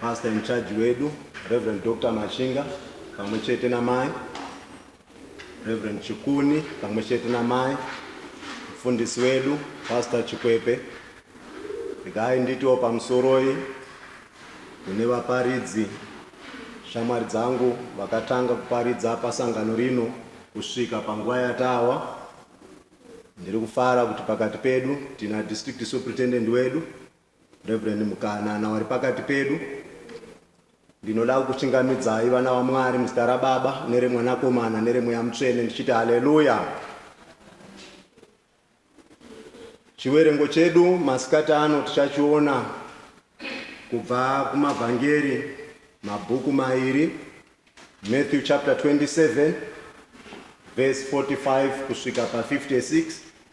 Pastor in charge wedu Reverend Dr. Machinga pamwe chete namai Reverend Chikuni pamwe chete namai mfundisi wedu Pastor Chikwepe regai nditiwo pamusoroi kune vaparidzi shamwari dzangu vakatanga kuparidza pasangano rino kusvika panguva yatawa ndiri kufara kuti pakati pedu tina district superintendent wedu Reverend Mukanana wari pakati pedu, ndinoda kukuchingamidzai vana vaMwari muzita raBaba nereMwanakomana nereMweya Mutsvene ndichiti haleluya. Chiwerengo chedu masikati ano tichachiona kubva kumavhangeri mabhuku mairi Matthew chapter 27 verse 45 kusvika pa 56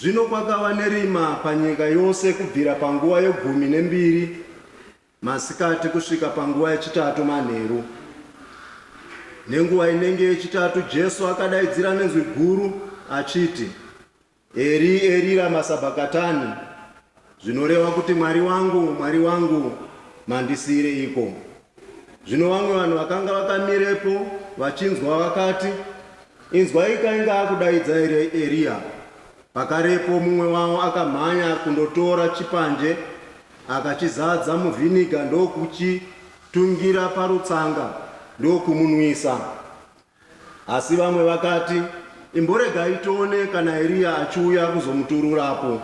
Zvino kwakava nerima panyika yose kubvira panguva yegumi nembiri masikati kusvika panguva yechitatu manheru. Nenguva inenge yechitatu Jesu akadaidzira nenzwi guru achiti, Eri, Eri rama sabhakatani, zvinoreva kuti, Mwari wangu, Mwari wangu, mandisiireiko? Zvino vamwe vanhu vakanga vakamirepo vachinzwa vakati, Inzwaika, inga akudaidza here Eriya? Pakarepo mumwe wavo akamhanya kundotora chipanje, akachizadza muvhiniga ndokuchitungira parutsanga ndokumunwisa. Asi vamwe vakati, Imboregai tione kana Eriya achiuya kuzomuturura apo.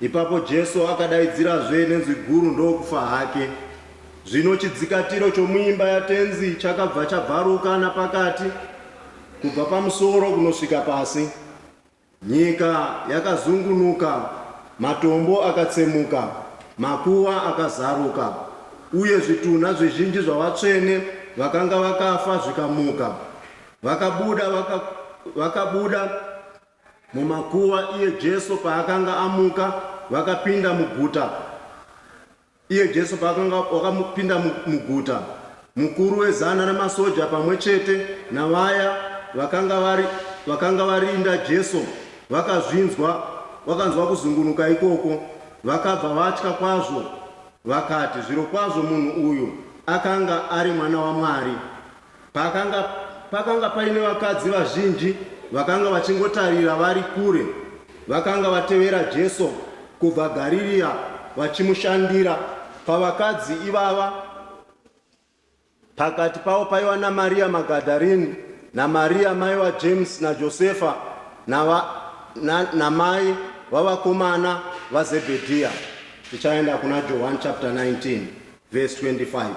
Ipapo Jesu akadaidzirazve nenzwi guru ndokufa hake. Zvino chidzikatiro chomuimba yaTenzi chakabva chabvaruka napakati, kubva pamusoro kunosvika pasi. Nyika yakazungunuka, matombo akatsemuka, makuva akazaruka, uye zvitunha zvizhinji zvavatsvene vakanga vakafa zvikamuka. Vakabuda, vaka, vakabuda mumakuva iye Jesu paakanga amuka, vakapinda muguta. Iye Jesu paakanga wakamupinda muguta, mukuru wezana ramasoja pamwe chete navaya vakanga vari, vakanga varinda Jesu vakazvinzwa, vakanzwa kuzungunuka ikoko, vakabva vatya kwazvo, vakati, Zvirokwazvo munhu uyu akanga ari Mwana waMwari. Pakanga, pakanga paine vakadzi vazhinji vakanga vachingotarira vari kure. Vakanga vatevera Jesu kubva Garirea vachimushandira. Pavakadzi ivava, pakati pavo paiva naMaria Magadharini, naMaria mai vaJames naJosefa, nava, na, namai vavakomana vaZebhedhiya. Tichaenda kuna Johani chapter 19 verse 25.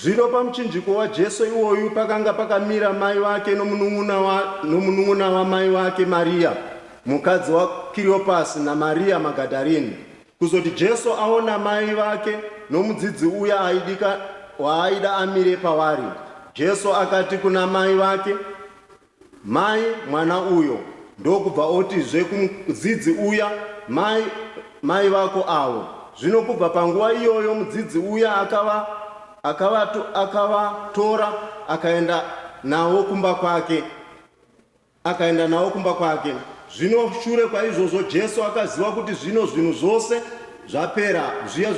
Zvino pamuchinjiko waJesu iwoyu pakanga pakamira mai vake nomunun'una wamai vake Mariya, mukadzi waKiriopasi naMariya Magadharini. Kuzoti Jesu aona mai vake nomudzidzi uya aidika waaida amire pavari, Jesu akati kuna mai vake, Mai mwana uyo ndokubva oti zve kumudzidzi uya mai mai vako avo zvino kubva panguva iyoyo mudzidzi uya akava akava akavatora akaenda navo kumba kwake akaenda navo kumba kwake zvino shure kwaizvozvo jesu akaziva kuti zvino zvinhu zvose zvapera zviya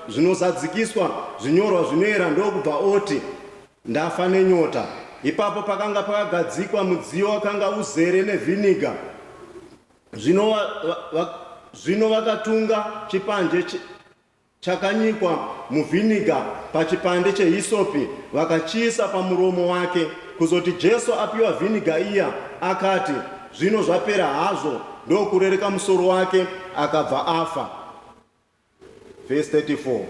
zvinozadzikiswa zvinyorwa zvinoera ndokubva oti Ndafa nenyota. Ipapo pakanga pakagadzikwa mudziyo wakanga uzere nevhiniga. Zvino, va, va, va, zvino vakatunga chipanje ch, chakanyikwa muvhiniga pachipande chehisopi vakachiisa pamuromo wake. Kuzoti Jesu apiwa vhiniga iya, akati, Zvino zvapera hazvo, ndokurereka musoro wake, akabva afa. Vhesi 34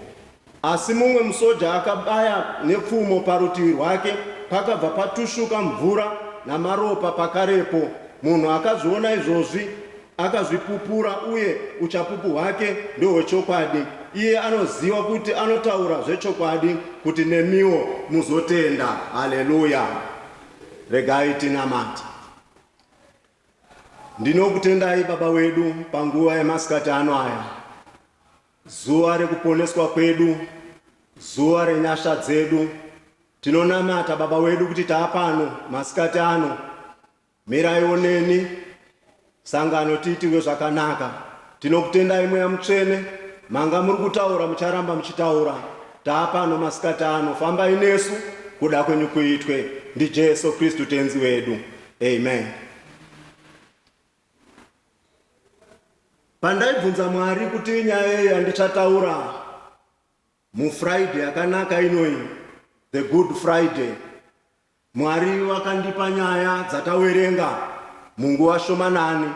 Asi mumwe musoja akabaya nepfumo parutivi rwake, pakabva patushuka mvura namaropa pakarepo. Munhu akazviona izvozvi akazvipupura, uye uchapupu hwake ndohwechokwadi. Iye anoziva kuti anotaura zvechokwadi, kuti nemiwo muzotenda. Haleluya! Regai tinamate. Ndinokutendai Baba wedu panguva yemasikati ano aya, zuva rekuponeswa kwedu, zuva renyasha dzedu. Tinonamata Baba wedu kuti taapano masikati ano, miraiwo neni sangano tiitirwe zvakanaka. Tinokutendai Mweya Mutsvene, manga muri kutaura mucharamba muchitaura. Taapano masikati ano, fambai nesu, kuda kwenyu kuitwe. NdiJesu Kristu Tenzi wedu. Amen. Pandaibvunza Mwari kuti nyaya yei yandichataura muFriday yakanaka inoyi, the good Friday, Mwari vakandipa nyaya dzatawerenga munguva shomanani.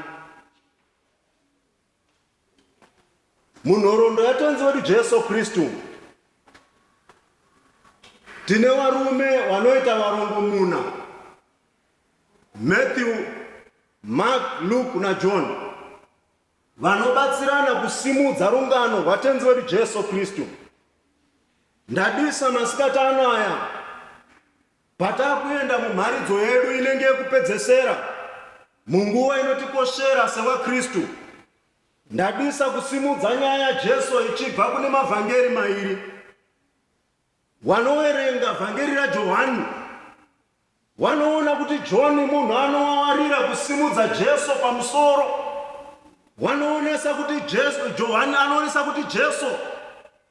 Munhoroondo yaTenzi wedu Jesu Kristu, tine varume vanoita varongomuna, Matthew, Mark, Luke naJohn, vanobatsirana kusimudza rungano rwaTenzi wedu Jesu Kristu. Ndadisa masikati ano aya Patakuenda mumharidzo yedu inenge yekupedzesera munguva inotikoshera sevaKristu, ndadisa kusimudza nyaya yaJesu ichibva kune mavhangeri mairi. Wanoverenga vhangeri raJohani wanoona kuti John munhu anowawarira kusimudza Jesu pamusoro. Wanoonesa kuti Jesu, Johani anoonesa kuti Jesu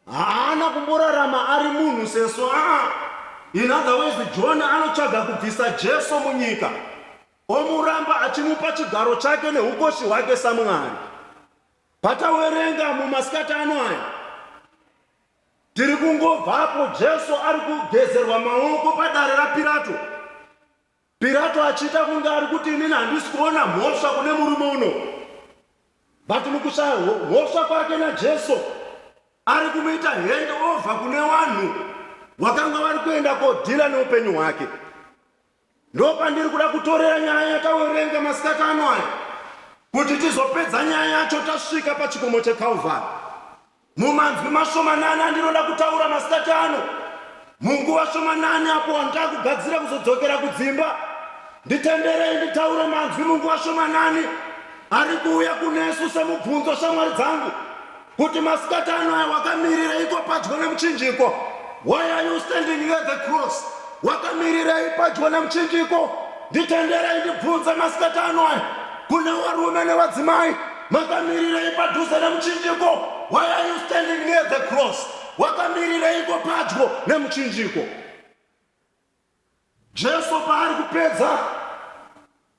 Haana kumborarama ari munhu sesu aa. In other ways John anotsvaga kubvisa Jesu munyika omuramba achimupa chigaro chake nehukoshi hwake saMwari. Patawerenga mumasikati ano aya tiri kungobvapo Jesu ari kugezerwa maoko padare raPirato. Pirato achiita kunge ari kuti, Inini handisi kuona mhosva kune murume uno. But mukushaya mhosva kwake naJesu, ari kumuita hand over kune vanhu vakanga vari kuenda kodhila neupenyu hwake. Ndopandiri kuda kutorera nyaya yatawerenga masikati ano aya kuti tizopedza nyaya yacho tasvika pachikomo cheKalvari. Mumanzwi mashomanani andinoda kutaura masikati ano, munguva shomanani apo wandava kugadzira kuzodzokera kudzimba, nditenderei nditaure manzwi munguva shomanani ari kuuya kunesu semubvunzo, shamwari dzangu, kuti masikati ano aya wakamirireiko padyo nemuchinjiko? Why are you standing near the cross? Wakamirirei padyo nemuchinjiko? Nditenderei ndibvunze masikati ano aya kune varume nevadzimai. Makamirirei padhuze nemuchinjiko? Why are you standing near the cross? Wakamirireiko padyo nemuchinjiko? Jesu paari kupedza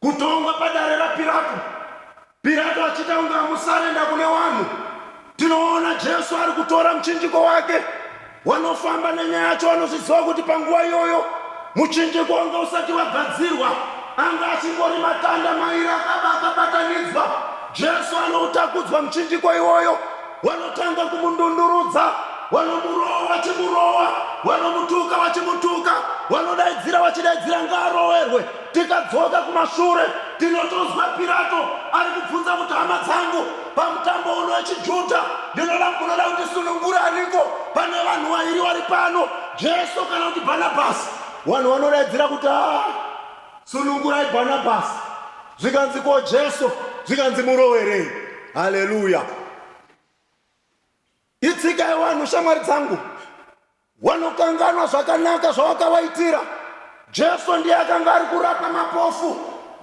kutongwa padare raPirato, Pirato achita kunge amusarenda kune wanhu, tinoona Jesu ari kutora muchinjiko wake Wanofamba nenyaya yacho anozviziva kuti panguva iyoyo muchinjiko wanga usati wagadzirwa, anga achingori matanda mairi akaba akabatanidzwa. Jesu anoutakudzwa muchinjiko iwoyo, wanotanga kumundundurudza, wanomurova vachimurova, wanomutuka vachimutuka, wanodaidzira vachidaidzira ngaaroverwe. Tikadzoka kumashure, tinotonzwa Pirato ari kubvunza kuti, Hama dzangu, pamutambo uno wechiJuda, ndinoda kukunoda kuti sunungura aniko pane vanhu vairi vari pano, Jesu kana kuti Bhanabhasi? Vanhu vanodaidzira kuti, Haa! Sunungurai Bhanabhasi! Zvikanzi, Ko Jesu? Zvikanzi, Murowerei? Haleluya! Itsigai vanhu, shamwari dzangu, wanokanganwa zvakanaka zvawakavaitira. Jesu ndiye akanga ari kurapa mapofu.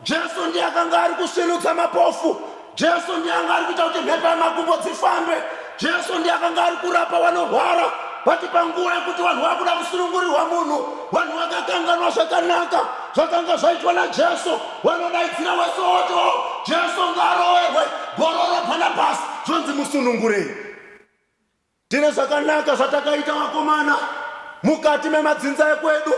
Jesu ndiye akanga ari kusvinudza mapofu. Jesu ndiye anga ari kuita kuti mhepo yamakumbo dzifambe. Jesu ndiye akanga ari kurapa vanorwara. Bati panguva yekuti vanhu vakuda kusunungurirwa munhu, vanhu vakakanganwa zvakanaka zvakanga zvaitwa naJesu. Vanodaidzira wese woto, Jesu ngaaroverwe, Bhororo Bhanabhasi zvonzi musunungurei. Tine zvakanaka zvatakaita vakomana mukati memadzinza ekwedu.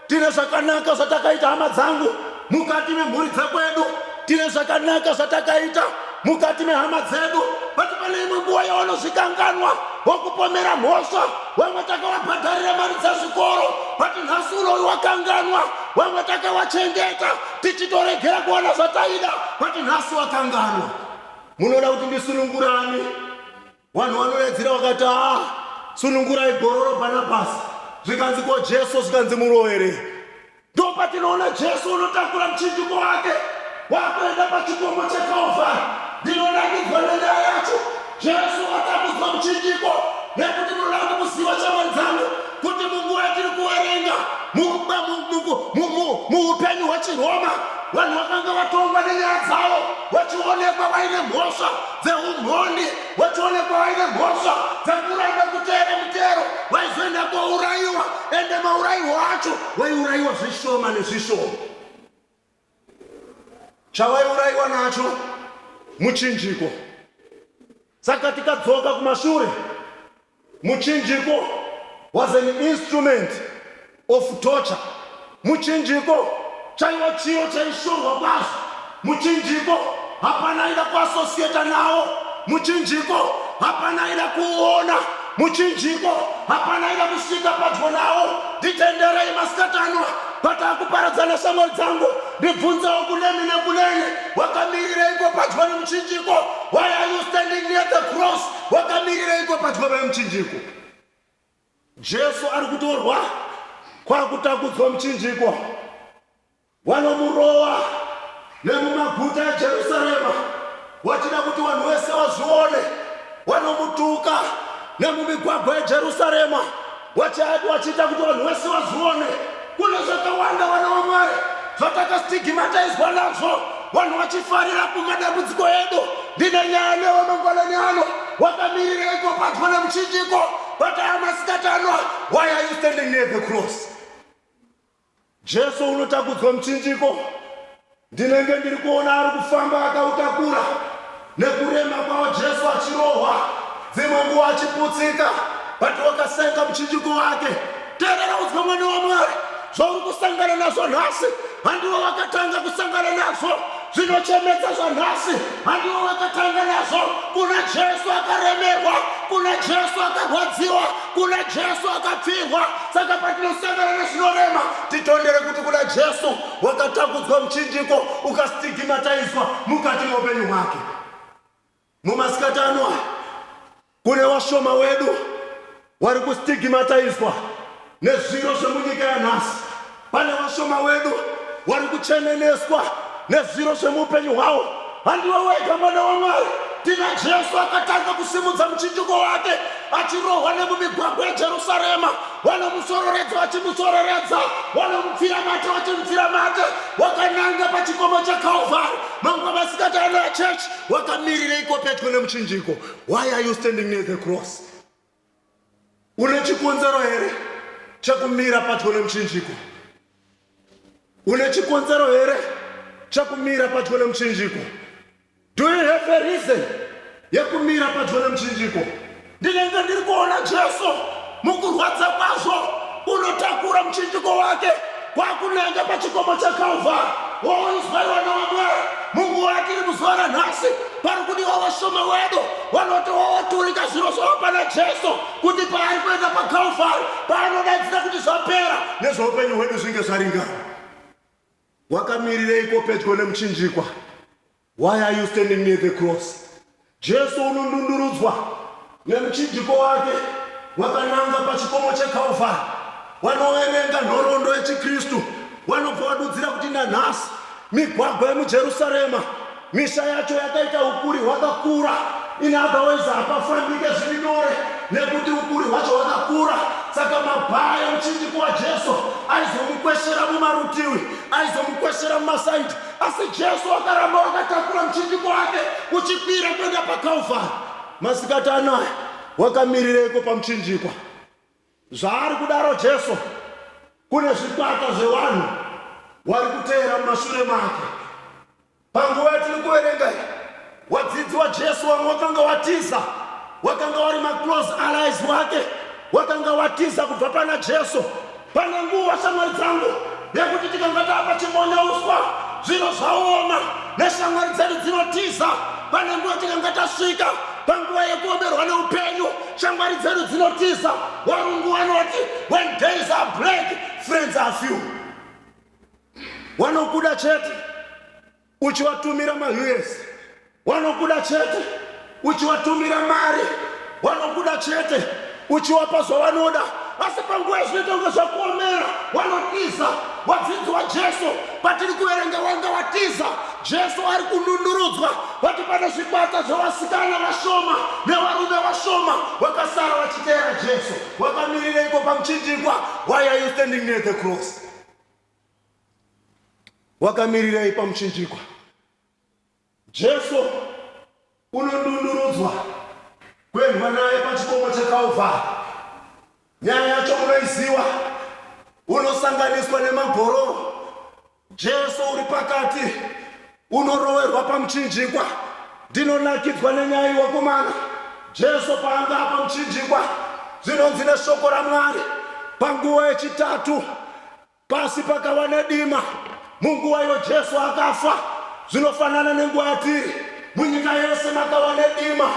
Tine zvakanaka zvatakaita hama dzangu mukati memhuri dzekwedu. Tine zvakanaka zvatakaita mukati mehama dzedu. Vati pane imwe nguva yavanozvikanganwa wokupomera mhosva. Vamwe takavabhadharira mari dzezvikoro. Vati nhasi uno uyu wakanganwa. Vamwe takavachengeta. tichitoregera kuwana zvataida but nhasi wakanganwa munoda kuti ndisunungurani vanhu vanoredzera vakati a sunungurai gororo bhanabhasi zvikanzi ko jesu zvikanzi muroere ndo patinoona jesu unotakura muchinjiko wake wakuenda pachikomo chekalvari ndinonangidzwa nenyaya yacho Jesu watambudzwa muchinjiko nekuti munoda kuti muziva shamwari dzangu kuti munguva yatiri kuverenga muupenyu hwechiroma vanhu vakanga vatongwa nenyaya dzavo vachionekwa vaine mhosva dzeumhondi vachionekwa vaine mhosva dzekuramba kuteera mutero vaizoenda kourayiwa ende maurayiwo acho vaiurayiwa zvishoma nezvishoma chavaiuraiwa nacho muchinjiko. Saka tikadzoka kumashure, muchinjiko was an instrument of torture. Muchinjiko chaiva chiro chaishorwa kwazvo. Muchinjiko hapana aida kuasosiyeta nawo. Muchinjiko hapana aida kuona Muchinjiko hapana aida kusvika padyo nawo nditenderei masikatanwa pata kuparadzana shamwari dzangu ndibvunzewo kunemi nekunene wakamirireiko padyo nemuchinjiko why are you standing near the cross wakamirireiko padyo vemuchinjiko jesu ari kutorwa kwakutakudzwa muchinjiko Wanomurova nemumaguta eJerusarema wachida kuti vanhu vese vazvione. Wanomutuka nemumigwagwa yeJerusarema wachiita kuti vanhu vese vazvione. Kune zvakawanda vana vaMwari zvatakastigimataizwa nazvo vanhu vachifarira kumadambudziko edu. Ndine nyaya newe mangwanani ano. Wakamirireiko padyo nemuchinjiko? But aya masikati ano, why are you standing near the cross? Jesu unotakudzwa muchinjiko. Ndinenge ndiri kuona ari kufamba akautakura nekurema kwavo Jesu achirohwa dzimwe nguva achiputsika but wakasenga muchinjiko wake. Terera udzwe mwana waMwari zvauri kusangana nazvo nhasi handivo vakatanga kusangana nazvo. Zvinochemedza zvanhasi handiwo wakatanga nazvo. Kuna Jesu akaremerwa, kuna Jesu akarwadziwa, kuna Jesu akapfirwa. Saka patinosangana nezvinorema, titondere kuti kuna Jesu wakatambudzwa muchinjiko, ukastigimataizwa mukati meupenyu hwake. Mumasikati ano aya, kune vashoma wedu wari kustigmatizwa nezviro zvemunyika yanhasi. Pane vashoma wedu wari kucheneneswa nezviro zvemuupenyu hwawo. Handiwe wega mwana waMwari. Tina Jesu akatanga kusimudza muchinjiko wake achirohwa nemumigwagwa yeJerusarema. Vanomusororedza vachimusororedza, vanomupfira mate vachimupfira mate. Wakananga pachikomo cheKalvari. Mamwe masikati ano achechi wakamirireiko pedyo nemuchinjiko why are you standing near the cross une chikonzero here chekumira padyo nemuchinjiko une chikonzero here chekumira padyo nemuchinjiko do you have a reason yekumira padyo nemuchinjiko Ndinenge ndiri kuona Jesu mukurwadza kwazvo unotakura muchinjiko wake kwakunanga pachikomo chaKalvari woonzwa vana waMwari munguva yatiri muzuva ranhasi pari kudiwa vashoma wedu vanoti wowoturika zviro zvavo pana Jesu kuti paari kuenda paKalvari paanodaidzira kuti zvapera nezveupenyu hwedu zvinge zvaringana. Wakamirireiko pedyo nemuchinjikwa? Why are you standing near the cross? Jesu unondundurudzwa nemuchinjiko wake wakananga pachikomo cheKalvari. Wanoverenga nhoroondo yechiKristu wanobva wadudzira kuti nanhasi migwagwa yemuJerusarema, misha yacho yakaita ukuri hwakakura. In other words, hapafambike zviri nyore nekuti ukuri hwacho hwakakura. Saka mabhaa emuchinjiko waJesu aizomukweshera mumarutivi, aizomukweshera mumasaidi. Asi Jesu wakaramba wakatakura muchinjiko wake uchikwira kuenda paKalvari. Masikati anaya wakamirireiko pamuchinjikwa? Zvaari kudaro Jesu, kune zvikwata zvevanhu wari kuteera mumashure make. Panguva yatiri kuverenga iyi, Wadzidzi waJesu wamwe wakanga watiza, wakanga wari maclose allies wake, wakanga watiza kubva pana Jesu. Pane nguva, shamwari dzangu, yekuti tikanga tapa chimonyauswa, zvino zvaoma, neshamwari dzedu dzinotiza. Pane nguva tikanga tasvika panguva yekuomerwa neupenyu, shamwari dzedu dzinotiza. Varungu vanoti, when days are black, friends are few. Wanokuda chete, uchiwatumira ma us wanokuda chete uchiwatumira mari wanokuda chete uchiwapa zvawanoda asi panguva yazvinoita kunge zvakuomera wanotiza wadzidzi wajesu patiri kuverenga wanga watiza jesu ari kunundurudzwa vati pane zvikwata zvevasikana vashoma nevarume vashoma vakasara vachiteera jesu wakamirireiko pamuchinjikwa why are you standing near the cross Wakamirirei pamuchinjikwa? Jesu unodundurudzwa kuendwa naye pachikomo cheKalvari. Nyaya yacho munoiziva, unosanganiswa nemagororo. Jesu uri pakati Unoroverwa pamuchinjikwa. Ndinonakidzwa nenyaya iwakomana. Jesu paanga apamuchinjikwa, zvinonzi neshoko raMwari, panguva yechitatu pasi pakava nedima. Munguva iyo Jesu akafa, zvinofanana nenguva yatiri. Munyika yese makava nedima.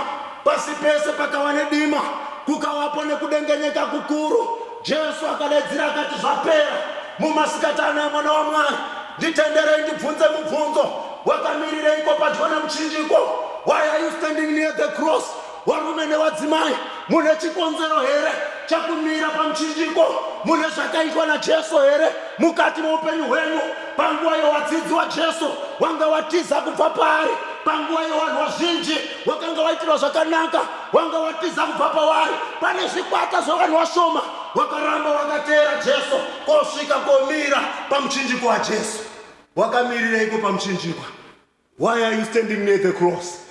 Pasi pese pakava nedima. Kukavapo nekudengenyeka kukuru. Jesu akadaidzira akati, Zvapera! Mumasikati ano emwana waMwari. Nditenderei ndibvunze mubvunzo. Wakamirireiko padyo nemuchinjiko? Why are you standing near the cross? Warume newadzimai, mune chikonzero here chakumira pamuchinjiko? Mune zvakaitwa naJesu here mukati meupenyu hwenyu? Panguva yewadzidzi waJesu, wanga watiza kubva paari. Panguva yevanhu vazhinji, wakanga waitirwa zvakanaka, wanga watiza kubva pavari. Pane zvikwata zvevanhu vashoma wakaramba wakateera Jesu. Kosvika komira pamuchinjiko waJesu. Wakamirireiko pamuchinjikwa? Why are you standing near the cross?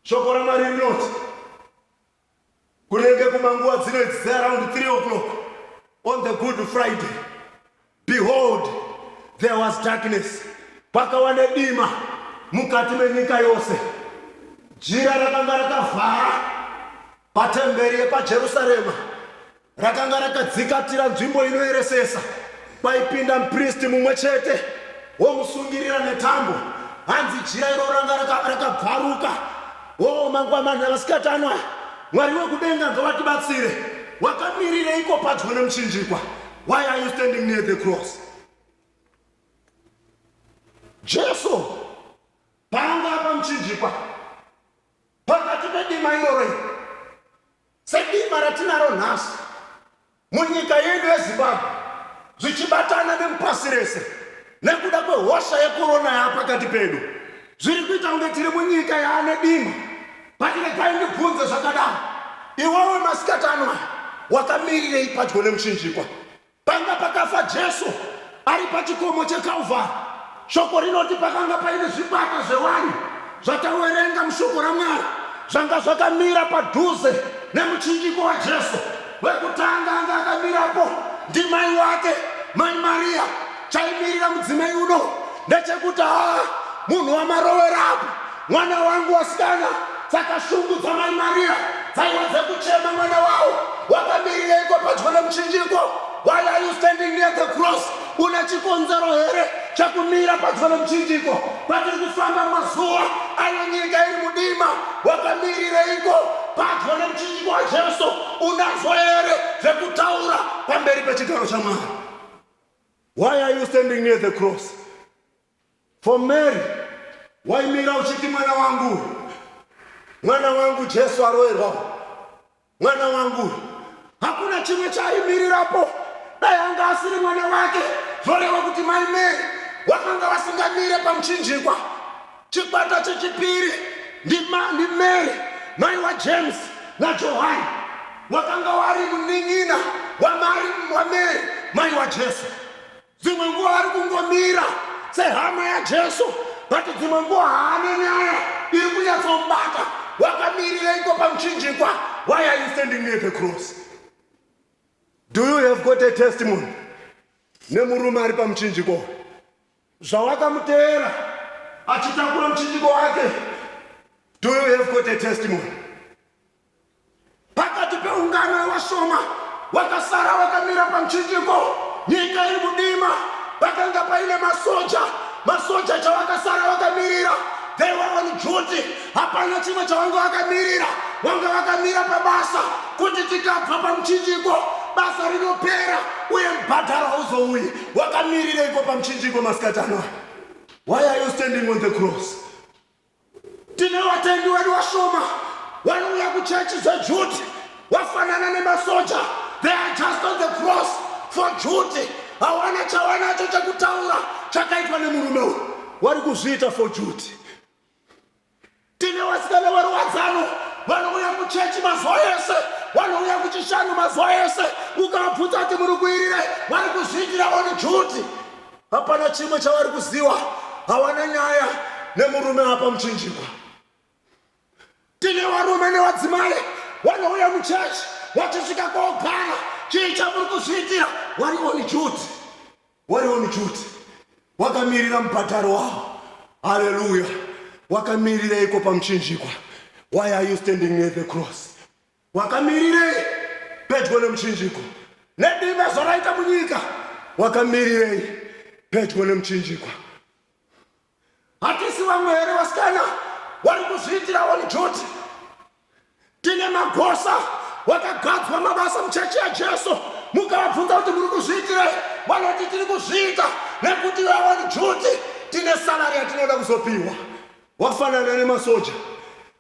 Shoko raMwari rinoti kunenge kumanguva dzino it's around 3 o'clock on the good Friday. Behold, there was darkness. Kwakava nedima mukati menyika yose. Jira rakanga rakavhara patemberi yepaJerusarema. Rakanga rakadzikatira nzvimbo inoeresesa kwaipinda mupristi mumwe chete womusungirira netambo. Hanzi jira iro ranga raka- rakabvaruka. Oo, mangwamana, vasikatana, Mwari wekudenga ngavatibatsire. Wakamirireiko padyo nemuchinjikwa? Why are you standing near the cross? Jesu paanga pamuchinjikwa pakati pedima iroro iri, Sedima ratinaro nhasi munyika yedu yeZimbabwe zvichibatana nemupasi rese nekuda kwehosha yekorona yaapakati pedu zviri kuita kunge tiri munyika yaane dima patiregai ndibvunze zvakadaro iwewe masikati ano aya wakamirirei padyo nemuchinjikwa Panga pakafa Jesu ari pachikomo cheKalvari. Shoko rinoti pakanga paine zvikwata zvevanhu zvatawerenga mushoko raMwari zvanga zvakamira padhuze nemuchinjiko waJesu. Wekutanga anga akamirapo ndimai wake, Mai Mariya. Chaimirira mudzimai uno ndechekuti haa munhu wamarowera apa. Mwana wangu wasikana saka shungu dzamai Maria dzaiva dzekuchema mwana wavo wakamirireiko padyo nemuchinjiko why are you standing near the cross une chikonzero here chekumira padyo nemuchinjiko patiri kufamba mazuva ayo nyika iri mudima wakamirireiko padyo nemuchinjiko wajesu unazo here zvekutaura pamberi pechigaro chamwari why are you standing near the cross For Mary waimira uchiti mwana wangu uyu mwana wangu Jesu aroerwa uyu mwana wangu uyu hakuna chimwe chaaimirirapo dai anga asiri mwana wake zvoreva kuti mai Mary wakanga wasingamire pamuchinjikwa chikwata chechipiri ndiMary mai waJames naJohani wakanga wari munin'ina waMary mai waJesu Dzimwe nguva ari kungomira sehama yaJesu, but dzimwe nguva haana nyaya iri kunyatsomubata. Wakamirireiko pamuchinjikwa? Why are you standing near the cross? Do you have got a testimony nemurume ari pamuchinjikwa uyu? Zvawakamuteera achitakura muchinjiko wake, do you have got a testimony? Pakati peungano yevashoma, wakasara wakamira pamuchinjiko, nyika iri mudima. Pakanga paine masoja, masoja chawakasara wakamirira they were on duty. Hapana chimwe chawanga wakamirira, wanga wakamira pabasa kuti tikabva pamuchinjiko basa rinopera uye mubhadharo hauzouyi. Wakamirireiko pamuchinjiko masikati anaya? Why are you standing on the cross? Tine vatendi wedu vashoma vanouya kuchechi dzejuti vafanana nemasoja they are just on the cross for juti hawana chavanacho chekutaura chakaitwa nemurume uyu wari kuzviita for juti tine vasikana varuwadzano vanouya kuchechi mazuva ese vanouya kuchishanu mazuva ese ukavabvunza kuti muri kuirire vari kuzviitira on juti Hapana chimwe chavari kuziwa, hawana nyaya nemurume apa muchinjikwa. Tine varume nevadzimai vanouya muchechi vachisvika kogara, chii chamuri kuzviitira? Wari on duty, wari on duty, wakamirira mubhadharo wavo. Haleluya! Wakamirireiko pamuchinjikwa? Why are you standing near the cross? Wakamirirei pedyo nemuchinjikwa? Nedii mazuva raita munyika? Wakamirirei pedyo nemuchinjikwa? Hatisi vamwe here vasikana wari kuzviitira on duty? Tine magosa wakagadzwa mabasa muchechi yaJesu. Mukavabvunza kuti muri kuzviitirei, vanoti tiri kuzviita nekuti iwe on duty tine salary yatinoda kuzopiwa. Wafanana nemasoja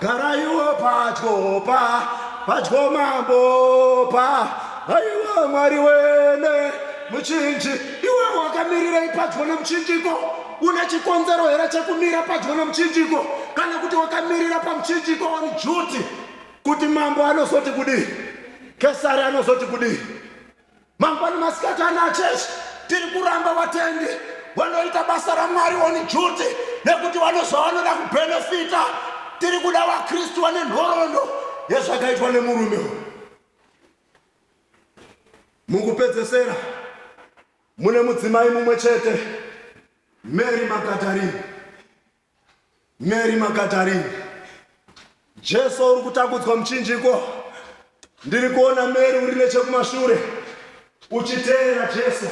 garaiwo padyo pa padyo mambo pa aiwa mwari wene muchinji iwe wakamirirei padyo nemuchinjiko una chikonzero here chekumira padyo nemuchinjiko kana kuti wakamirira pamuchinjiko on duty kuti mambo anozoti kudii kesari anozoti kudii Mangwana masikati ana church tiri kuramba vatendi vanoita basa raMwari on duty nekuti vanozova vanoda kubenefita. Tiri kuda vaKristu vane nhoroondo yezvakaitwa nemurume uyu. Mukupedzesera, mune mudzimai mumwe chete, Mary Magadarini, Mary Makatarini, Jesu uri kutakudzwa muchinjiko. Ndiri kuona Mary uri nechekumashure uchiteera Jesu.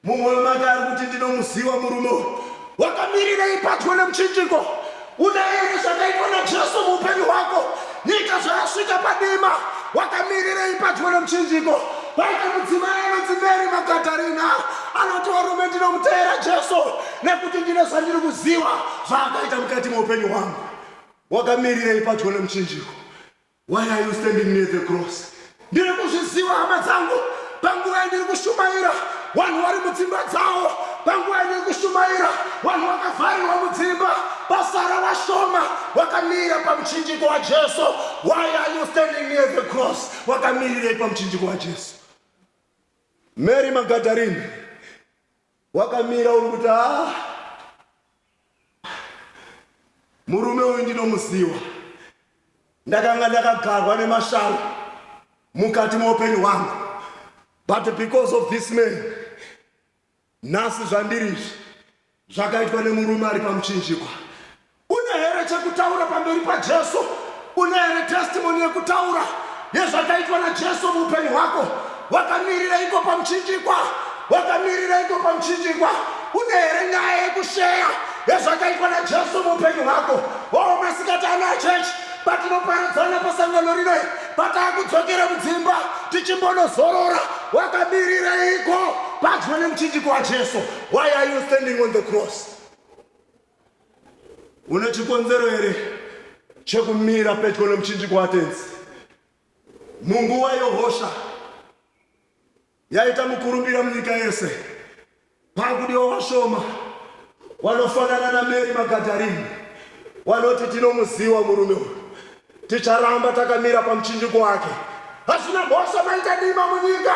Mumwoyo make ari kuti ndinomuziva murume uyu. Wakamirirei padyo nemuchinjiko? Une here zvakaitwa naJesu muupenyu hwako? Nyika zvayasvika padima, wakamirirei padyo nemuchinjiko? Paita mudzimai anonzi Mary Makatarina anoti varume ndinomuteera Jesu. nekuti ndine zvandiri kuziva zvaakaita mukati meupenyu hwangu wakamirirei padyo nemuchinjiko why are you standing near the cross ndiri kuzviziva hama dzangu panguva yandiri kushumaira vanhu vari mudzimba dzavo panguva yandiri kushumaira vanhu vakavharirwa mudzimba pasara vashoma wakamira pamuchinjiko wajesu why are you standing near the cross wakamirirei pamuchinjiko wajesu mary magadarini Wakamira uri kuti haa murume uyu ndinomuziwa. Ndakanga ndakagarwa nemashavi mukati meupenyu hwangu but because of this man nhasi zvandiri izvi zvakaitwa nemurume ari pamuchinjikwa. Une here chekutaura pamberi paJesu? Une here testimony yekutaura yezvakaitwa naJesu muupenyu hwako? Wakamirireiko pamuchinjikwa? Wakamirireiko pamuchinjikwa? Une here nyaya yekusheya yezvakaitwa naJesu muupenyu hwako? Oh, masikati ana chechi patinoparadzana pasangano rino pataakudzokera mudzimba tichimbonozorora wakamirireiko padyo nemuchinjiko wajesu why are you standing on the cross Une chikonzero here chekumira pedyo nemuchinjiko waTenzi? Munguva yohosha yaita mukurumbira munyika yese, pakudiwa vashoma wanofanana naMeri Magadharini wanoti tinomuziwa murume uyu, Ticharamba takamira pamuchinjiko wake. Hazvina mhosva maita dima munyika,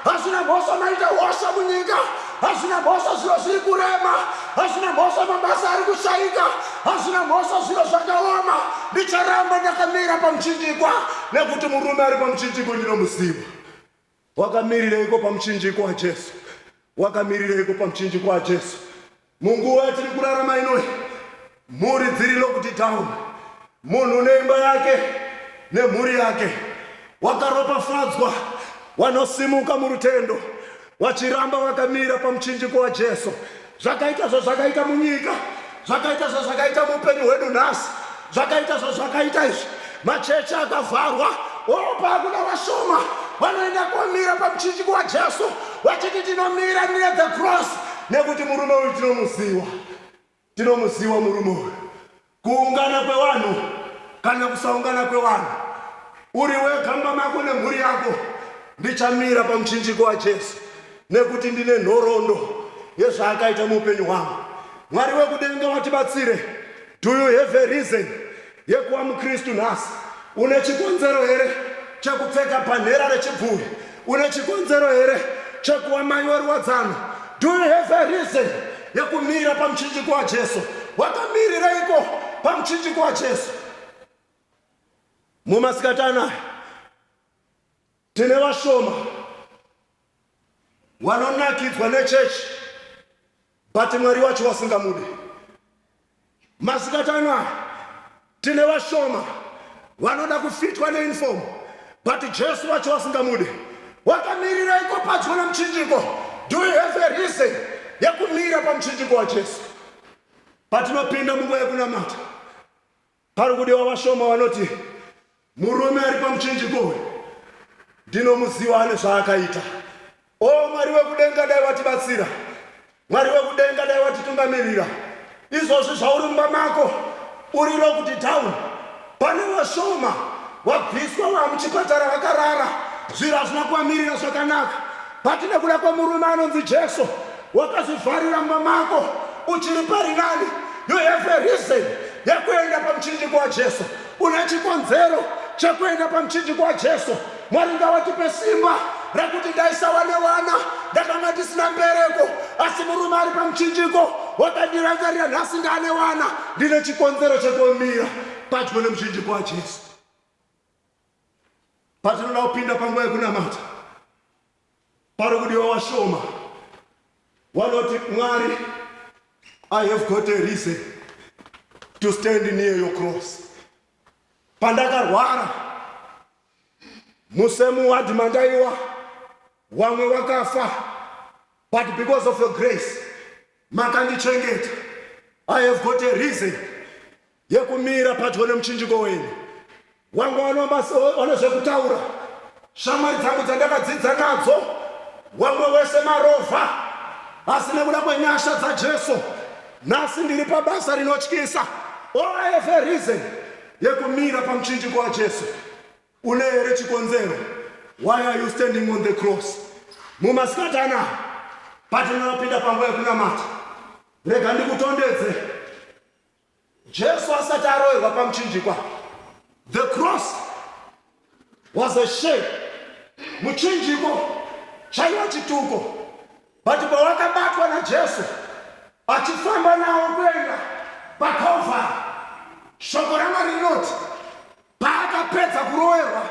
hazvina mhosva maita hosha munyika, hazvina mhosva zviro zviri kurema, hazvina mhosva mabasa ari kushaika, hazvina mhosva zviro zvakaoma. Ndicharamba ndakamira pamuchinjikwa nekuti murume ari pamuchinjiko ndinomuziva. Wakamirireiko pamuchinjiko waJesu? Wakamirireiko pamuchinjiko waJesu? Munguva yatiri kurarama inoi, mhuri dziri locked down, munhu neimba yake nemhuri yake. Wakaropafadzwa wanosimuka murutendo wachiramba wakamira pamuchinjiko waJesu. Zvakaita zvazvakaita munyika, zvakaita zvazvakaita muupenyu hwedu nhasi, zvakaita zvazvakaita izvi, machechi akavharwa, oh, paakuda vashoma vanoenda komira pamuchinjiko waJesu vachiti tinomira near the cross nekuti murume uyu tinomuziwa, tinomuziwa murume uyu. Kuungana kwevanhu kana kusaungana kwevanhu, uri wega mumba mako nemhuri yako, ndichamira pamuchinjiko waJesu nekuti ndine nhoroondo yezvaakaita muupenyu hwangu. Mwari wekudenga watibatsire. Do you have a reason yekuva muKristu nhasi? Une chikonzero here chekupfeka bhanhera rechibvuri? Une chikonzero here chekuva mai weruwadzano? Do you have a reason yekumira pamuchinjiko waJesu? Wakamirireiko pamuchinjiko waJesu? Mumasikati anaya tine vashoma wanonakidzwa nechechi but mwari wacho wasingamude masikatano aya tine vashoma vanoda kufitwa neinform but jesu wacho wasingamude wakamirira iko padyo nemuchinjiko do you have a reason yekumira pamuchinjiko wajesu patinopinda munguva yekunamata Pari kudiwa vashoma vanoti murume ari pamuchinjiko uyu ndinomuziva ane zvaakaita. O Mwari wekudenga, dai watibatsira. Mwari wekudenga, dai watitungamirira. Izvozvi zvauri mumba mako uri locked down, pane vashoma wabviswa wamuchipatara vakarara, zviro hazvina kuvamirira zvakanaka. But nekuda kwemurume anonzi Jesu wakazvivharira mumba mako uchiri paringani you have a reason yekuenda pamuchinjiko waJesu une chikonzero chekuenda pamuchinjiko waJesu Mwari ngawatipe simba rekuti ndaisava newana ndakanga ndisina mbereko asi murume ari pamuchinjiko wakandirangarira nhasi ndane wana ndine chikonzero chekumira padyo nemuchinjiko waJesu Patinoda kupinda panguva yekunamata, pari kudiwa washoma. Wanoti, Mwari, I have got a reason to stand near your cross. Pandakarwara musemu wadhi mandaiwa, wamwe wakafa, but because of your grace makandichengeta. I have got a reason yekumira padyo nemuchinjiko wenyu wangu wane zvekutaura shamwari dzangu dzandakadzidza nadzo wamwe wese marovha asi nekuda kwenyasha dzajesu nhasi ndiri pabasa rinotyisa oeve reason yekumira pamuchinjiko wajesu une here chikonzero why are you standing on the cross mumasikati anaa patinonopinda panguva yekunamata rega ndikutondedze Jesu asati aroverwa pamuchinjikwa, the cross was a shame. Muchinjiko chaiva chituko, but pawakabatwa naJesu achifamba nawo kuenda paCalvary, shoko raMwari rinoti Paakapedza kuroverwa,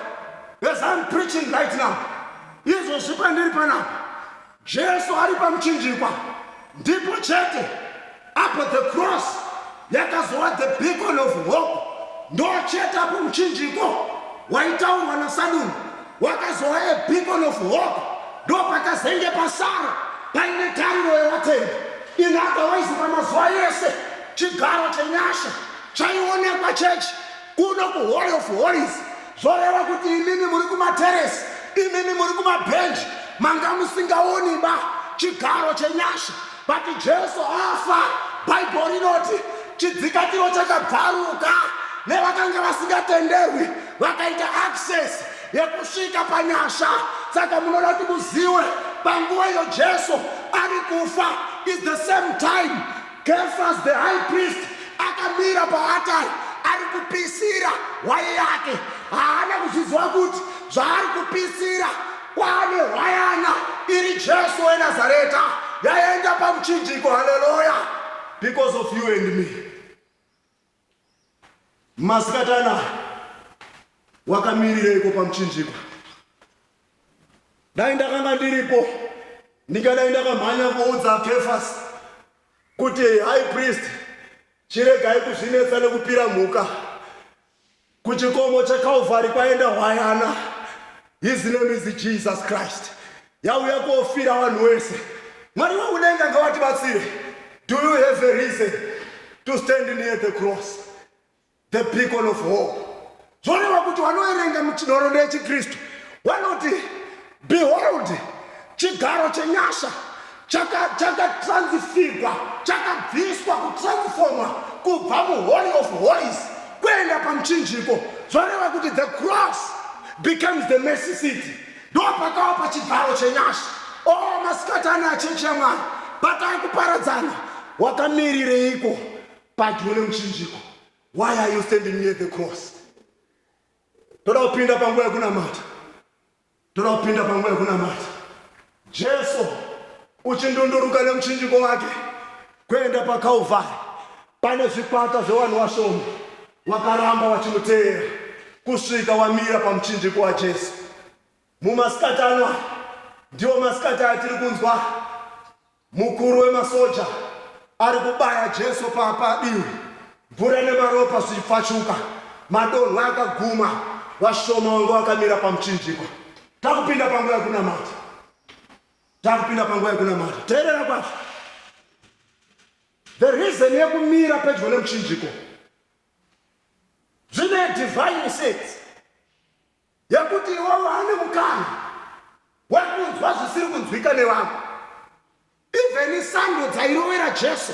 as I'm preaching right now, izvozvi pandiri panapa, Jesu ari pamuchinjikwa, ndipo chete apo the cross yakazova the beacon of hope, ndochete apo muchinjiko waitaurwa naSaduni wakazova a beacon of hope, ndopakazenge pasara paine tariro yevatendi. In other ways, pamazuva ese chigaro chenyasha chaionekwa chechi Kuno ku Hall of Holies zvoreva kuti imimi muri kumateresi, imimi muri kumabhenji, manga musingaoni ba chigaro chenyasha. But Jesu afa, Bible rinoti chidzikatiro chakabvaruka nevakanga vasingatenderwi vakaita access yekusvika panyasha. Saka munoda kuti muziwe panguva iyo Jesu ari kufa is the same time Kefas the high priest akamira paatari ari kupisira hwai yake. Haana kuzviziva kuti zvaari kupisira kwaane hwayana iri Jesu weNazareta yaenda pamuchinjiko. Haleluya! Because of you and me. Masikati anaya wakamirireiko pamuchinjikwa? Dai ndakanga ndiripo ndingadai ndakamhanya kuudza Kefasi kuti high priest chiregai kuzvinetsa nekupira mhuka Kuchikomo chaKalvari kwaenda hwayana. His name is Jesus Christ. Yauya kofira vanhu wese. Mwari wekudenga ngawatibatsire. Do you have a reason to stand near the cross? The beacon of hope. Zvoreva kuti wanoerenga nhoroondo yechiKristu wanoti Behold, chigaro chenyasha chakatransfigwa, chakabviswa, kutransformwa kubva muHoly of Holies kuenda pamuchinjiko. Zvoreva kuti the cross becomes the mercy seat. Ndo pakava pachigaro chenyasha. O oh, masikati ano achechi yaMwari, batai kuparadzana. Wakamirireiko padyo nemuchinjiko? Why are you standing near the cross? Toda kupinda panguva yekunamata. Toda kupinda panguva yekunamata Jesu uchindunduruka nemuchinjiko wake kuenda paKalvari. Pane zvikwata zvevanhu vashoma vakaramba vachimuteera kusvika wamira pamuchinjiko waJesu. Mumasikati ano ndiwo masikati atiri kunzwa Mukuru wemasoja ari kubaya Jesu padivi, mvura nemaropa zvichipfachuka. Madonhwe akaguma, vashoma vanga vakamira pamuchinjikwa. Takupinda panguva yekunamata, takupinda panguva yekunamata. Teerera kwazvo, the reason yekumira pedyo nemuchinjiko zvine divine sense Yekuti iwewe waane mukana wekunzwa zvisiri kunzwika nevamwe. Even sando dzairovera Jesu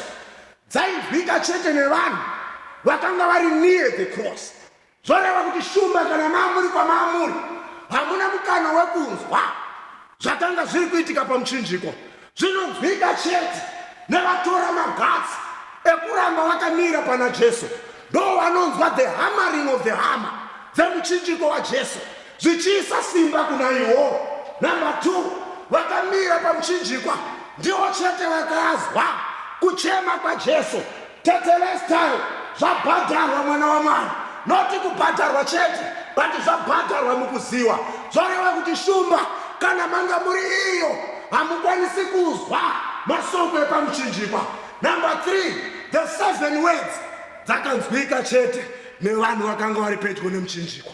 dzainzwika chete nevanhu vakanga vari near the cross. Zvoreva kuti shumba kana maamuri kwamaamuri hamuna mukana wekunzwa zvakanga zviri kuitika pamuchinjiko. Zvinonzwika chete nevatora magatsi ekuramba vakamira pana Jesu ndovanonzwa the hammering of the hammer dzemuchinjiko waJesu zvichiisa simba kuna iwo. Number two, vakamira pamuchinjikwa ndivo chete vakazwa kuchema kwaJesu Tetelestai zvabhadharwa mwana wamwari not kubhadharwa chete but zvabhadharwa mukuziwa zvoreva kuti shumba kana manga muri iyo hamukwanisi kuzwa masoko epamuchinjikwa number 3 the seven words dzakanzwika chete nevanhu vakanga vari pedyo nemuchinjikwa